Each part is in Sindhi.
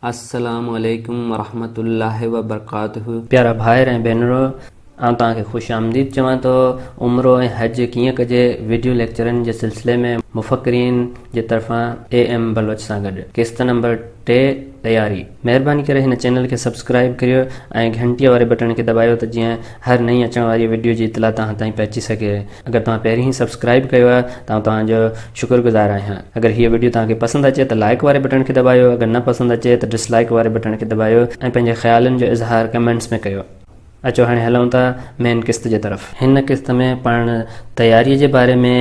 السلام عليڪم ورحمة الله وبرڪاته. پيارا ڀائر ۽ ڀينرو آئون توهان کي خوش آمديد چوان ٿو عمرو ۽ حج ڪيئن ڪجي ويڊيو ليڪچرن جي سلسلي ۾ مفڪرين جي طرفان اي ايم بلوچ سان گڏ قسط نمبر ٽي تياري مهرباني ڪري هن چينل کي سبسڪرائب ڪريو ۽ گهنٽيء واري بٽڻ کي دٻايو ته جيئن هر نئين اچڻ واري ويڊيو جي اطلاع توهان تائين پهچي سگهي. اگر توهان پهرين ئي سبسڪرائيب ڪيو آهي ته آئون توهان جو شڪر گذار آهيان. اگر هيء وڊيو توهان کي پسند اچي ته لائيڪ واري بٽڻ کي دٻايو اگر نه پسند اچي ته ڊس لائيڪ واري بٽڻ کي دٻايو ۽ پنهنجي خيالن جو اظهار ڪمينٽس ۾ ڪيو. اچو هاڻي هلون ٿا مين قسط جي طرف. هن قسط ۾ پاڻ تياريء جي باري ۾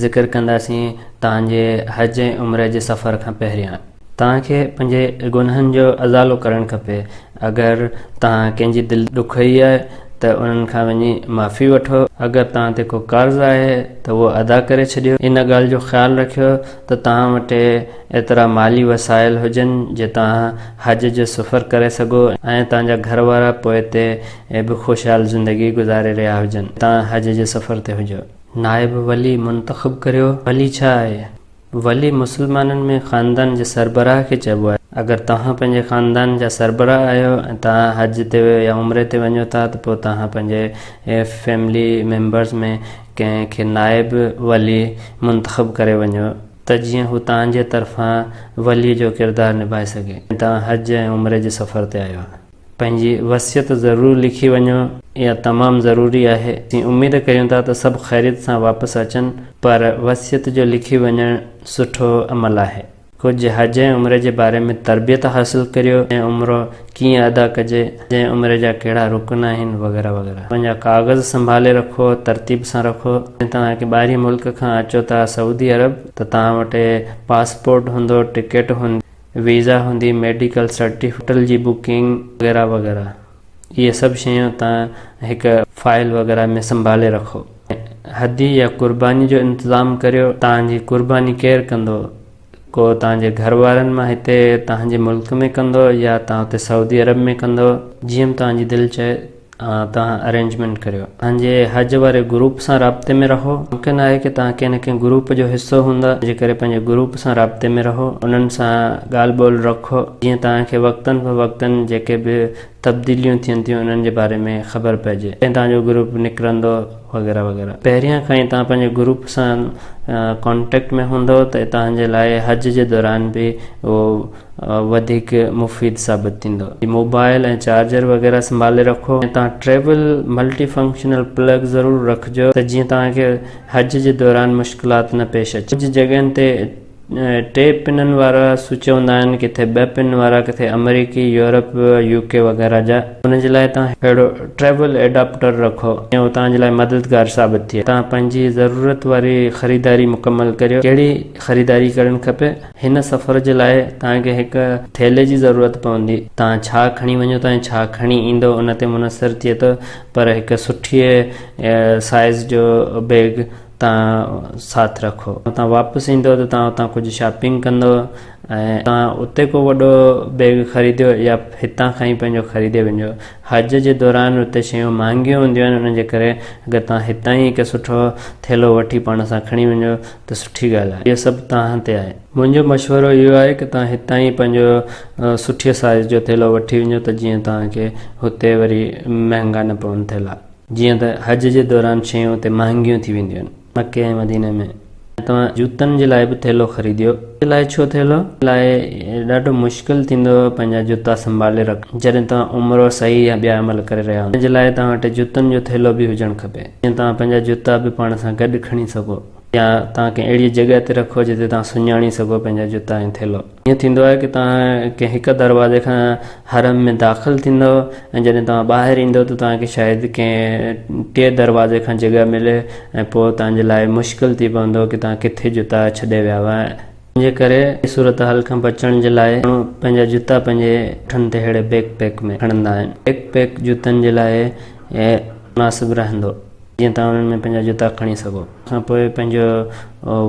ذڪر ڪنداسين توهان جي حج ۽ عمري جي سفر کان پهريان. توهان کي پنهنجي گناهن جو ازالو ڪرڻ کپي. اگر توهان ڪنهن جي دل ڏکوئي آهي ته انهن کان وڃي معافي وٺو. اگر توهان تي ڪو قرض آهي ته اهو ادا ڪري ڇڏيو. ان ڳالهه جو خيال رکيو ته توهان وٽ ايترا مالي وسائل هجن جو توهان حج جو سفر ڪري سگهو ۽ توهان جا گهر وارا پوئتي به خوشحال زندگي گذاري رهيا هجن توهان حج جي سفر تي هجو. نائب ولي منتخب ڪريو. ولي ڇا آهي؟ ولي مسلمانن ۾ خاندان جي سربراهه کي چئبو آهي. اگر توهان پنهنجي خاندان جا سربراهه آهيو ۽ توهان حج تي يا عمري تي وڃو ٿا ته پوء توهان پنهنجي فيملي ميمبرز ۾ ڪنهن کي نائب ولي منتخب ڪري وڃو ته جيئن هو توهان جي طرفان ولي جو ڪردار نڀائي سگهي ۽ توهان حج ۽ عمري جي سفر تي آيو آهيو. پنهنجي وصيت ضرور لکي وڃو اها تمام ضروري آهي اسين اميد ڪريون ٿا ته سڀ خيريت سان واپس اچن پر وصيت جو لکي وڃڻ سٺو عمل آهي ڪجهه حج ۽ عمري جي باري ۾ تربيت حاصل ڪريو ۽ عمرو ڪيئن ادا ڪجي حج ۽ عمري جا ڪهڙا رڪن آهن وغيره وغيره پنهنجا ڪاغذ سنڀالي رکو ترتيب سان رکو جي توهان ڪي ٻاهرين ملڪ کان اچو ٿا سعودي عرب ته توهان وٽ پاسپورٽ هوندو ٽڪيٽ هوندي ويزا هوندي، ميڊيڪل سرٽيفڪيٽ، هوٽل جي بڪنگ وغيره وغيره اهي سڀ شيون توهان هڪ فائل وغيره ۾ سنڀالي رکو ۽ هدي يا قرباني جو انتظام ڪريو، توهان جي قرباني ڪير ڪندو؟ ڪو توهان جي گهر وارن مان هتي توهان جي ملڪ ۾ ڪندو يا توهان اتي سعودي عرب ۾ ڪندو جيئن به توهان جي دل چئي. توهان ارينجمينٽ ڪريو توهان جي حج واري گروپ سان رابطي ۾ رهو ممڪن آهي ڪه توهان ڪنهن نه ڪنهن گروپ جو حصو هوندا ان جي ڪري پنهنجي گروپ سان رابطي ۾ رهو انهن سان ڳالهه ٻولهه رکو جيئن توهان کي وقتن فوقتن جيڪي به تبديليون ٿين ٿيون انهن جي باري ۾ خبر پئجي ڪڏهن توهان جو گروپ نڪرندو وغيره وغيره پهريان کان ئي توهان پنهنجي گروپ سان ڪانٽيڪٽ ۾ هوندو ته توهان جي لاء حج جي دوران به اهو وڌيڪ مفيد ثابت ٿيندو موبائل ۽ چارجر وغيره سنڀالي رکو ۽ تان ٽريول ملٽي فنڪشنل پلگ ضرور رکجو ته جيئن تان کي حج جي دوران مشڪلات نه پيش اچي ڪجهه جڳهين تي ٽي پنن وارا سوئچ هوندا آهن ڪٿي ٻه پن وارا ڪٿي امريڪي يورپ يو ڪي وغيره جا ان جي لاء تان اهڙو ٽريول ايڊاپٽر رکو جيئن هو تان جي لاء مددگار ثابت ٿئي تان پنهنجي ضرورت واري خريداري مڪمل ڪريو ڪهڙي خريداري ڪرڻ کپي هن سفر جي لاء توهان کي هڪ ٿيلهي جي ضرورت پوندي. توهان ڇا کڻي وڃو ٿا ۽ ڇا کڻي ايندو ان تي منحصر ٿئي ٿو پر هڪ سٺيء سائيز جو بيگ توهان ساٿ رکو. توهان واپس ايندو ته توهان اتان ڪجهه شاپنگ ڪندو ۽ توهان اتي ڪو وڏو بيگ خريديو يا هتان کان ئي پنهنجو خريدي وڃو. حج جي دوران اتي شيون مهانگيون هونديون آهن ان جي ڪري اگر توهان هتان ئي هڪ سٺو ٿيلهو وٺي پاڻ سان کڻي وڃو ته سٺي ڳالهه آهي اهو سڀ توهان تي آهي منهنجو مشورو اهو آهي ته توهان هتان ئي پنهنجو سٺي سائيز جو ٿيلهو وٺي وڃو ته جيئن توهان کي هتي وري مهانگا نه پون ٿيلها جيئن ته حج جي دوران شيون هتي مهانگيون ٿي وينديون آهن مڪي ۽ مديني ۾ ۽ توهان جوتن جي لاء به ٿيلهو خريديو جي لاء ڇو ٿيلهو لاء ڏاڍو مشڪل ٿيندو پنهنجا جوتا سنڀالي رکڻ جڏهن توهان عمرو سعي يا ٻيا عمل ڪري رهيا هوندا ان جي لاء توهان وٽ جوتن جو ٿيلهو به هجڻ کپي. جيئن توهان پنهنجا جوتا به پاڻ سان گڏ کڻي سگهو يا توهان ڪنهن اهڙيء جڳهه تي رکو جتي توهان سڃاڻي سگهو پنهنجا جوتا ۽ ٿيلهو. ائين ٿيندو آهي ته توهان ڪنهن هڪ دروازي کان حرم ۾ داخل ٿيندؤ ۽ جڏهن توهان ٻاهر ايندؤ ته توهان کي شايد ڪنهن ٽئين دروازي کان جڳهه ملي ۽ پوء توهان جي لاء مشڪل ٿي پوندو ته توهان ڪٿي جوتا ڇڏي ويا هئا ۽ جي ڪري صورتحال کان بچڻ جي لاء ماڻهو پنهنجا جوتا پنهنجي پٺن تي ههڙي بيڪ پيڪ ۾ کڻندا آهن. بيڪ پيڪ جوتن جي لاء مناسب رهندو جيئن توهان انهن ۾ پنهنجا جوتا کڻي سگهو. ان کان پوء پنهنجو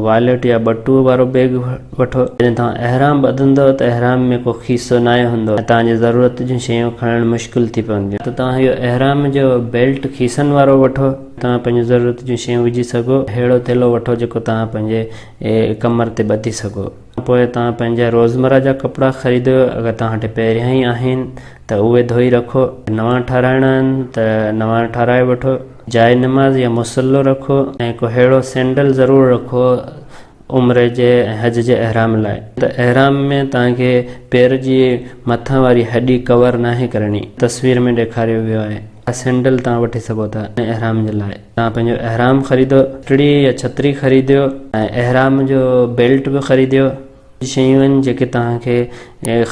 واليٽ يا ٻٽوء وارو بيگ وٺو. جڏهن توهان احرام ٻڌندؤ ته احرام ۾ ڪو کيسو ناهي هوندو ۽ توهان جي ضرورت جون شيون کڻڻ مشڪل ٿي پونديون. ته توهان اهو احرام جو بيلٽ کيسن وارو وٺو جتي توهان پنهنجون ضرورت جون شيون وجهي سگهو. اهڙو ٿيلهو وٺو جيڪو توهان پنهنجي. اي ڪمر تي ٻڌي سگهو. ان پوء توهان پنهنجا روزمره جا ڪپڙا خريدو، اگر توهان وٽ پهريان ئي آهن ته اهي ڌوئي رکو، اگر نوان ٺاراهڻا آهن ته نوان ٺاراهي وٺو، جاء نماز يا مصلو رکو ۽ ڪو ههڙو سينڊل ضرور رکو عمري جي ۽ حج جي احرام لاء. ته احرام ۾ توهان کي پير جي مٿان واري هڏي ڪور ناهي ڪرڻي، تصوير ۾ ڏيکاريو ويو آهي، اها سينڊل توهان وٺي سگهو ٿا ان احرام جي لاء. توهان پنهنجو احرام خريدو، پٽڙي يا ڇتري خريديو ۽ احرام جو بيلٽ به خريديو. اهي شيون آهن جيڪي توهان کي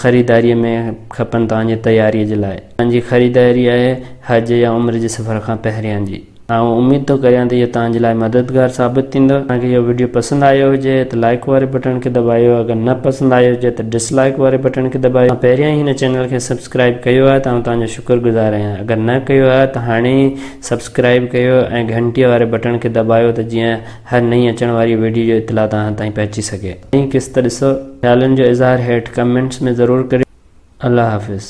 خريداريء ۾ کپن توهان جي تياريء جي لاء. توهان جي خريداري آهي حج يا عمري جي سفر کان پهريان جي. آئون اميد ٿو ڪريان ته اهو توهان جي لاء مددگار ثابت ٿيندو. توهان کي اهو وڊيو پسند آيو هجي ته لائيڪ واري بٽڻ کي دٻايو اگر نه پسند آيو هجي ته ڊس لائيڪ واري بٽڻ کي دٻايو. توهان پهريان ئي هن چينل کي سبسڪرائيب ڪيو آهي ته آئون توهان جو شڪر گذار آهيان اگر نه ڪيو آهي ته هاڻي ئي سبسڪرائب ڪيو ۽ گهنٽيء واري بٽڻ کي دٻايو ته جيئن هر نئين اچڻ واري وڊيو جو اطلاع توهان تائين پهچي سگهي. نئين قسط ڏسو. خيالن جو اظهار هيٺ ڪمينٽس ۾ ضرور ڪريو. الله حافظ.